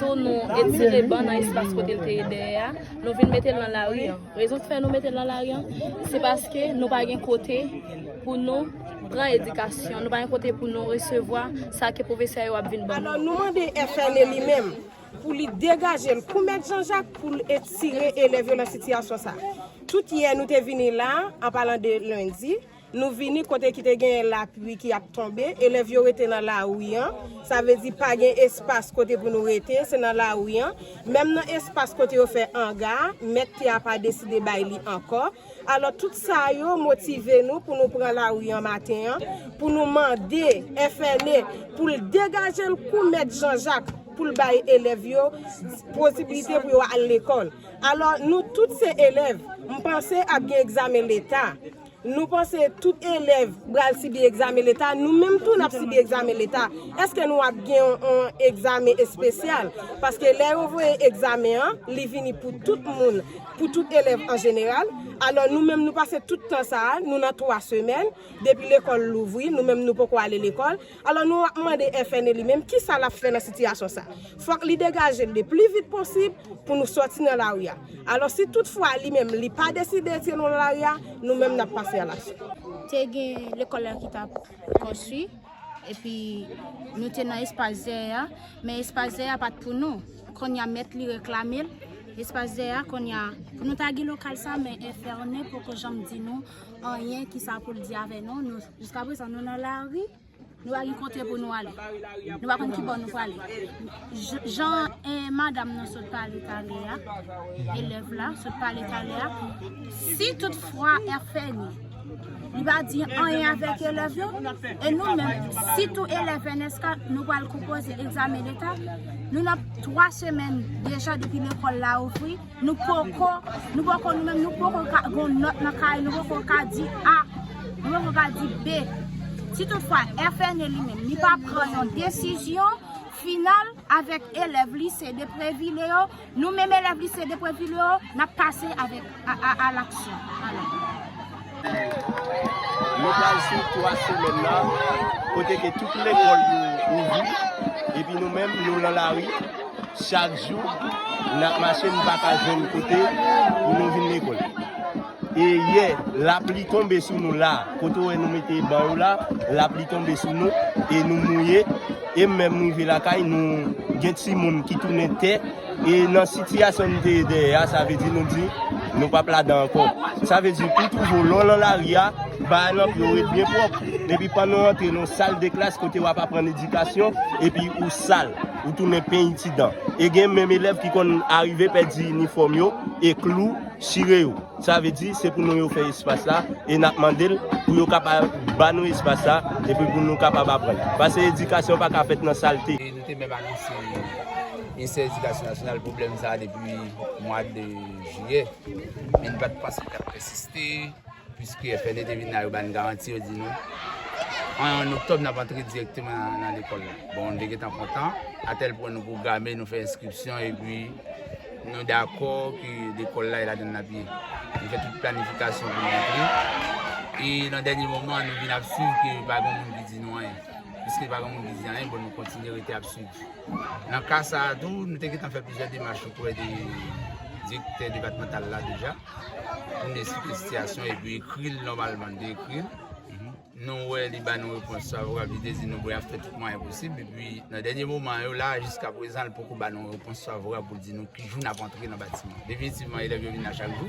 Tou nou etire ban nan espas kote l te ye dèyè a, nou vin mete l nan lari an. Rezon ki fè nou mete l nan lari an, se paske nou pa gen kote pou nou pran edikasyon, nou pa gen kote pou nou resevwa sa ke pwofesè yo ap vin ban nou. Alò nou mande FNE li menm pou li degaje l kou mèt Janjak pou l etire elèv yo nan sitiyasyon sa. Tout yè nou te vini la, an palan de lendi, Nou vini kote ki te genyen lapli ki ap tonbe, elèv yo rete nan lari an, sa vle di pa gen espas kote pou nou rete, se nan lari an. Menm nan espas kote yo fè anga a, mèt tè a pa deside bay li ankò. Alò, tout sa yo motive nou pou nou pran lari an maten an, pou nou mande FNE pou l degaje l kou mèt Janjak, pou l bay elèv yo posibilite pou yo al lekòl. Alò, nou tout se elèv, m panse ap gen egzamen Leta. Nou panse tout elèv pral sibi egzamen leta, nou menm tou n ap sibi egzamen leta. Èske nou ap gen yon egzamen espesyal? Paske lè yo voye egzamen an, li vini pou tout moun, pou tout elèv an jeneral. Alò, nou menm nou pase tout tan sa a, nou nan twa semèn, depi lekòl louvri, nou menm nou poko ale lekòl. Alò nou ap mande FNE li menm kisa lap fè nan sitiyasyon sa. Fòk li degaje l le pli vit posib pou nou sòti nan lari a. Alò si tout fwa li menm li pa deside etire nou nan lari a, nou menm nap pase a laksyon. Te gen lekòl la ki tap konstwi epi nou te nan espas zè a, men espas zè a pat pou nou. Konnya mèt li reklame l espas zè a konnya pou nou ta gen lokal sa men FNE poko janm di nou anyen kisa pou l di avè nou. Jiska prezan nou nan lari, nou pa gen kote pou nou ale. Nou pa konn ki bò nou prale. Jan madam nou sot pale talè a, elèv la sot pale talè a, si tout fwa FNI li pa di anyen avèk elèv yo, e nou menm, si tou elèv NSK nou pral konpoze egzamen leta, nou nan 3 semèn deja depi lekòl la ouvri. Nou poko, nou poko nou menm nou poko ka gen yon nòt nan kay nou, nou poko ka di A, nou poko ka di B. Si tout fwa FNE li menm li pa pran yon desizyon final avèk elèv lise Depreville yo, nou menm elèv lise Depreville yo, n ap pase a laksyon. Nou pral swiv 3 semèn nan kote ke tout lekòl yo ouvri epi nou menm nou lan lari chak jou nap mache nou pa ka jwenn kote pou nou vin lekòl. E yè lapli tonbe sou nou la kote ou wè nou mete ban yo la lapli tonbe sou nou e nou mouye e menm rive lakay nou gen timoun ki tounen tè. E nan sitiyasyon nou te ye dèyè a, sa vle di nou di, nou pap ladan ankò. Sa vle di tou toujou, lè w lan lari a, bagay lan pou yo ret byen pwòp. Epi pandan w rantre nan sal de klas kote w ap aprann edikasyon, epi ou sal, ou tounen peny ti dan. E gen menm elèv ki konn arive pèdi inifòm yo, e klou chire yo. Sa vle di, se pou nou yo fè espas la, e n ap mande l pou yo kapab ba nou espas la, epi pou nou kapab aprann. Pase edikasyon pa ka fèt nan salte. Mwen te menm anonse Ministè Edikasyon Nasyonal pwoblèm sa a depi mwa de jiyè, men nou pa t panse li t ap pèsiste, piske FNE te vin la, yo ba n garanti, yo di nou, an oktòb n ap antre dirèkteman nan lekòl la. Bon, nou te gentan kontan, atèl pwen nou pwograme, nou fè enskripsyon, epi nou dakò ke lekòl la e ladan l n ap ye. Nou fè tout planifikasyon pou nou antre, e nan dènye moman an nou vin ap swiv ke pa gen moun ki di nou anyen. Piske pa gen moun ki di anyen, bon nou kontinye rete ap swiv. Nan ka sa a tou, nou te gentan fè plizyè demach oprè de direktè depatmantal la deja pou n esplike sitiyasyon epi ekri l nòmalman. Nou te ekri l, nou wè li ba nou repons favorab, li te di nou bon y ap fè tout mwayen posib. Epi nan dènye moman yo la a, jiska prezan li poko ba nou repons favorab pou l di nou ki jou n ap antre nan batiman an. Definitivman elèv yo vin la chak jou.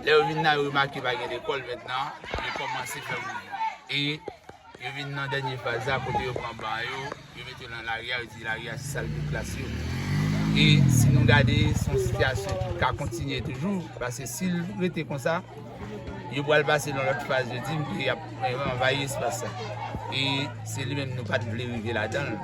Lè yo vin la, yo remake pa gen lekòl mèt nan, yo kòmanse fè mouvman. Yo vin nan dènye faz la kote yo pran ban yo, yo mete yo nan lari a, yo di lari a se sal de klas yo. E si nou gade se yon sitiyasyon ki ka kontinye toujou, paske si l rete konsa, yo pral pase nan lòt faz yo di m ke y ap anvayi espas sa. E se li menm nou pa t vle rive ladan l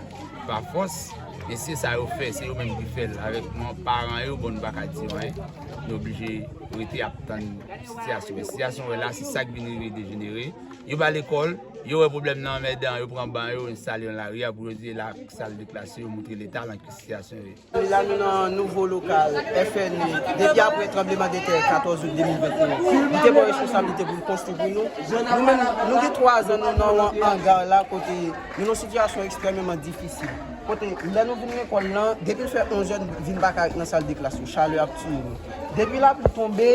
pa fòs, men se sa yo fè, se yo menm ki fè l avèk nou paran yo, bon nou pa ka di yo anyen, nou oblije rete ap tann sitiyasyon. Men sitiyasyon wè la se sa k vin rive dejenere. Yo pa lekòl, yo wè pwoblèm nan anmèdan, yo pran ban yo enstale yo nan lari a pou yo di e la k sa l de klase yo moutre leta lan ki sitiyasyon yo ye. La nou nan nouvo lokal FNE depi apre tranbleman de tè 14 out 2021 li te pran responsablite pou l konstwi pou nou. Nou menm nou gen 3 zan nou nan yon anga la kote nou nan sitiyasyon ekstrèmeman difisil. Kote lè nou vin lekòl lan depi l fè 11 è nou vin pa ka ret nan sal de klas yo chalè ap tiye nou. Depi lapli tonbe.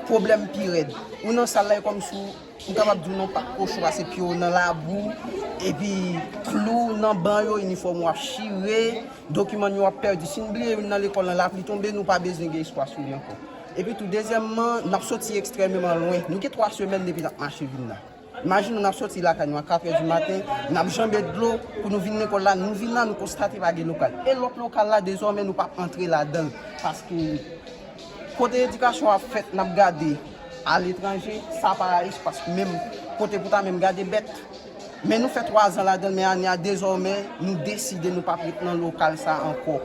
Pwoblèm pi rèd. Ou nan sal la e kòm si ou kapab di ou nan pak kochon pase pye w nan labou, epi klou nan ban yo, inifòm ou ap chire, dokiman nou yo ap pèdi. Si n bliye youn nan lekòl lan, lapli tonbe, nou pa bezwen gen espwa sou li ankò. Epitou dezyèmman, n ap soti ekstrèmeman lwen. Nou gen twa semèn depi n ap mache vin la. Imajine nou ap sòti lakay nou a 4 è di maten, n ap janbe dlo pou nou vin lekòl la, nou vin la nou konstate pa gen lokal. E lòt lokal la dezòmè nou pa antre ladan l paske kote edikasyon ap fèt n ap gade aletranje, sa pa espas menm kote pou ta menm gade bèt. Men nou fè 3 zan ladan l men ane a dezòmè nou deside nou p ap ret nan lokal sa ankò.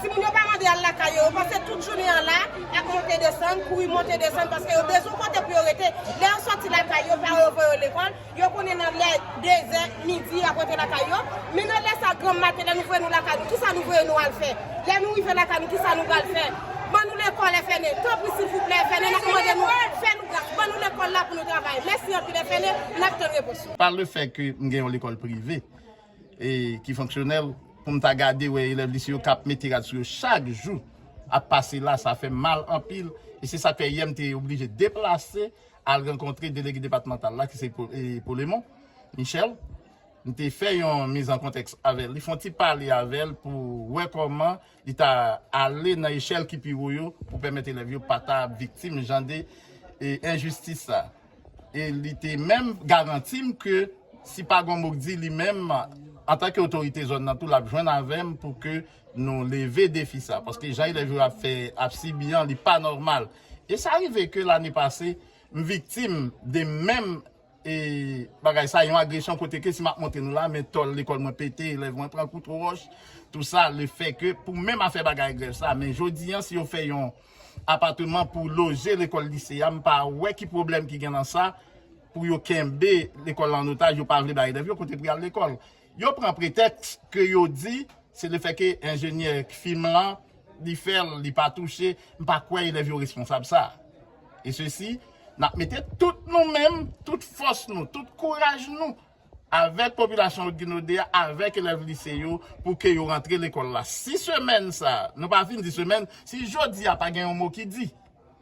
Timoun yo pa mande al lakay yo, yo pase tout jounen an la ak monte desann, kouri monte desann paske yo bezwen yon kote pou yo rete. Lè yo sòti lakay yo, paran yo voye yo lekòl, yo konnen nan lè dezè, midi, y ap rantre lakay yo. Men nan lè sa granm maten, lè nou voye nou lakay nou, ki sa nou voye nou al fè? Lè nou rive lakay nou, ki sa nou pral fè? Ban nou lekòl FNE! Tanpri silvouplè FNE, n ap mande nou, fè nou gras, ban nou lekòl la pou nou travay. Mèsi anpil FNE, n ap tann repons nou. Pa lefè ke m gen yon lekòl prive. ki fonksyonèl pou m ta gade wè elèv lise yo k ap mete rad sou yo chak jou ap pase la, sa fè m mal anpil e se sa k fè yè m te oblije deplase al rankontre delege depatmantal la ki se Polemon Michel m te fè yon mizankontèks avè l li fon ti pale avè l pou wè kòman Li ta ale nan echèl ki pi wo yo pou pèmèt elèv yo pa ta viktim jan de enjistis sa. E li te menm garanti m ke si pa gon mouk di li menm antanke otorite zòn nan tou l ap jwenn avè m pou ke nou leve defi sa. Paske jan elèv yo ap fè, ap sibi an li pa nòmal. E sa rive ke lane pase m viktim de menm E bagay sa yon agresyon kote ke si map montre nou la men tòl lekòl mwen pete, elèv mwen pran kout wòch, tou sa le fè ke pou menm afè bagay grèv sa, men jodi an si yo fè yon apateman pou loje lekòl lise a m pa wè ki pwoblèm ki gen nan sa pou yo kenbe lekòl la an otaj yo pa vle bay elèv yo kote pou yal lekòl. Yo pran pretèks ke yo di se le fè ke enjenyè k fim lan li fèl li pa touche, m pa kwè elèv yo responsab sa. E sesi n ap mete tout nou menm, tout fòs nou, tout kouraj nou avèk popilasyon Otginaudé a, avèk elèv lise yo pou ke yo rantre lekòl la. Si semèn sa, nou pa fin di semèn, si jodi a pa gen yon mo ki di.